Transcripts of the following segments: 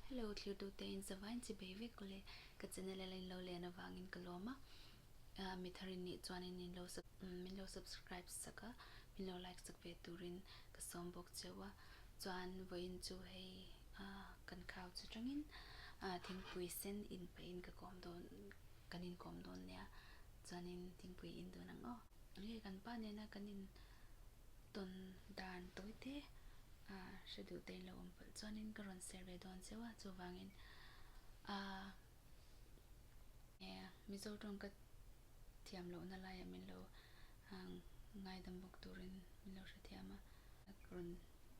Hello thlirdute in sava in chhi bei vek awle ka channel a la in lo len avangin ka lawm a ah mithar in nih chuan in lo min lo subscribe sak a min lo like sak ve turin ka sawm bawk cheu a chuan vawiin chu hei ah kan khau chu tangin ah thingpui sen in pah in ka kawm dawn kan in kawm dawn nia chuanin thingpui in dawn ang aw. Hei kan pa nena kan in. Tawn dan tawi te a hre duh tein lo awm pawlh chuanin ka rawn ser ve dawn seuh a, chuvangin ahh Mizo tawng ka thiam lohna laiah min lo ngaidam bawk turin min lo hrethiam a, ka rawn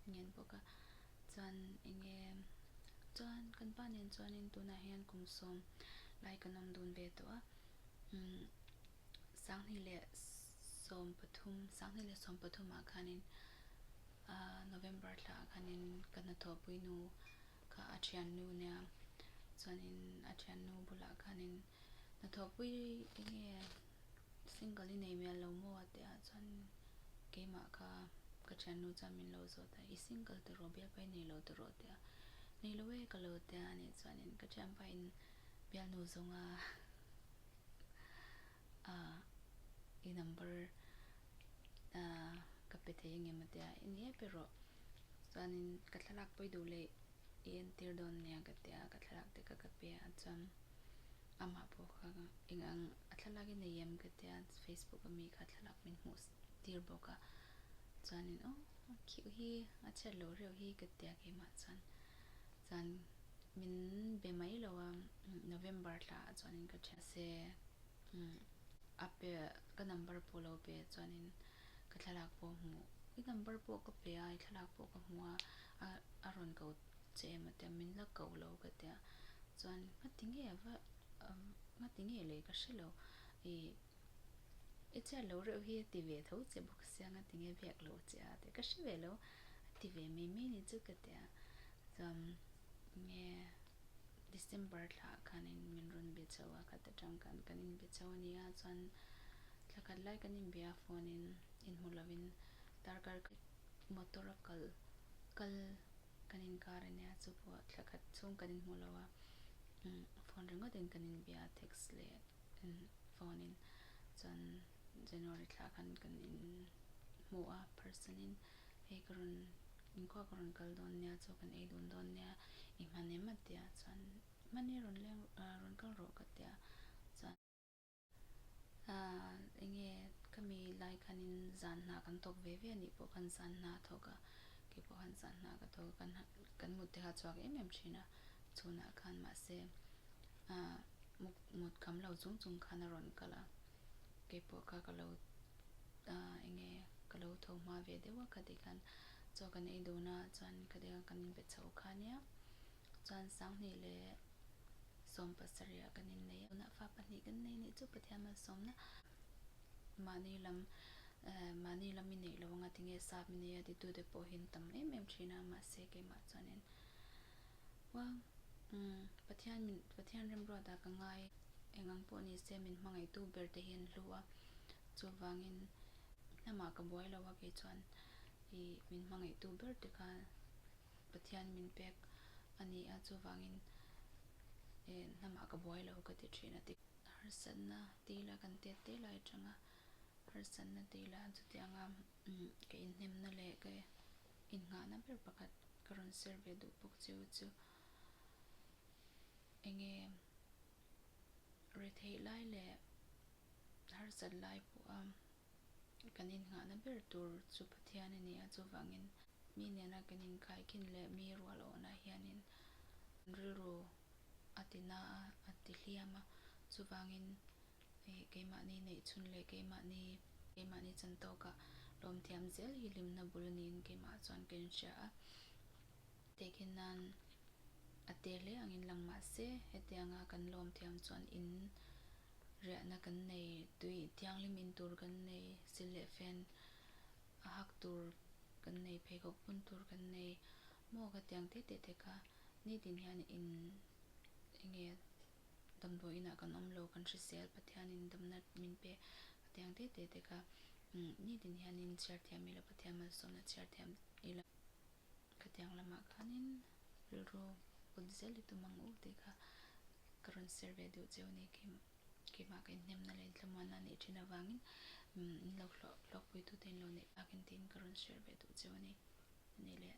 ngen bawk a, chuan enge chuan kan pa nen chuanin tunah hian kum sawm lai kan awm dun ve tawh a, Sanghnih leh sawm pathum, Sanghnih leh sawm pathum ah khanin November thla ah khanin ka hnathawhpui nu kha a thian nu nia chuanin a thian nu bulah khanin hnathawhpui enge single i nei hmel lo maw a tih ah chuanin keimah kha ka thian nu chuan min lo zawt a, i single ta rawh bialpa i nei lo ta rawh a ti a, nei lo e ka lo ti a, a nih chuan ka thianpa in bialnu zawnga Ahh i number ahh ka pe thei ange mah tia i ni e pe rawh chuanin ka thlalak pawi duh leh i entir dawn nia ka tia ka thlalak te kha ka pe a chuan amah pawh kha engang a thlalak i nei em ka tia facebook a mi kha thlalak min hmuh tir bawk a chuanin aw khiah hi a chhiat loh reuh hi ka tia keimah chuan chuan. Min be mai lo a, November tla ah chuan in ka chhiah se, a pe ka number pawh lo pe chuan in ka thlalak pawh hmuh, i number pawh ka pe a, i thlalak pawh ka hmu a, a rawn ko che em ati a, min la ko lo ka ti a, chuan hmati nge va, hmati nge lei ka hre lo, i. I chhiat lo reuh hi a ti ve tho che bawk asiang a ti nge biak lo che a tia ka hre ve lo a ti ve mai mai ni chu ka ti a chuan nge December thla ah khan in min rawn be chho a khat atang khan kan in be chho a ni a chuan thla khat lai kan in be a phone in in hmu lo in darkar kha motor a kal kal kan in kar a nia chu pawh thla khat chhung kan in hmu lo a phone ringawt in kan in be a text leh Kan phone in chuan January thla khan kan in hmuh a person in hei ka rawn inkhua ka rawn kal dawn nia chu kan ei dun dawn nia i hman em a tia chuan mani rawn leng ah rawn kal rawh ka tia chuan ah enge ka mi lai khan in zan hna kan thawk ve ve a nih pawh khan zan hna thawk a kei pawh khan zan hna ka thawk a kan hna kan mut te kha a chhuak em em thin a. Chhunah khan mahse a muk mut kam lo chung chung khan a rawn kalh a, keipawh kha ka lo enge ka lo tho hma ve deuh a, khatih khan chaw kan ei dun a, chuan khatih khan kan inbe chho kha nia, chuan Sanghnih leh Sawm pasarihah kan innei a, tunah fa pahnih kan nei neih chu Pathianah sawmna mahni lam mahni lam i neih lo anga tinge sap i nei a titute pawhin tam em em thin a, mahse keimah chuanin. Umm umm Pathian min Pathian remruata ka ngai e. Eng ang pawh ni se min hmangaihtu ber te hi an hlu a, chuvangin hnamah ka buai lo a kei chuan i min hmangaihtu ber te kha Pathian min pek a ni a chuvangin e hnamah ka buai lo ka ti thin a ti. Harsatna tei ila kan tet te lai atanga harsatna tei ila chutianga umm ka inhnemna leh ka e. Innghahna ber pakhat ka rawn ser ve duh bawk che u chu, enge retheih lai leh harsat lai pawha kan innghahna ber tur chu Pathian a ni a, chuvangin mi nena kan inkaihkhin leh mi rual awnah hianin rilru a ti na a, a ti hliam a, chuvangin Keimahni neih chhun leh keimahni keimahni chan tawkah lawm thiam zel hi hlim hna bul niin keimah chuan ka inhria a. Tehkhin nan a te hle angin lang mahse hetianga kan lawm thiam chuan in riahna kan nei, tui thianghlim in tur kan nei, sil leh fen a hak tur kan nei, pheikhawk bun tur kan nei maw ka tiang tete teka ni tin hian in enge. damdawi inah kan awm lo, kan hrisel, Pathian in damna min pe a teh ang tete dek a, ni tin hian in chhiar thiam ila, Pathian malsawmna chhiar thiam ila, khatiang lamah khanin rilru put zel i tum ang u tih kha ka rawn ser ve duh cheu ni, keimah ka inhnemna leh inthlamuanna a nih thin avangin min lo hluahpuitute in lo neih bakah tiin ka rawn share ve duh cheu a ni. Ni leh.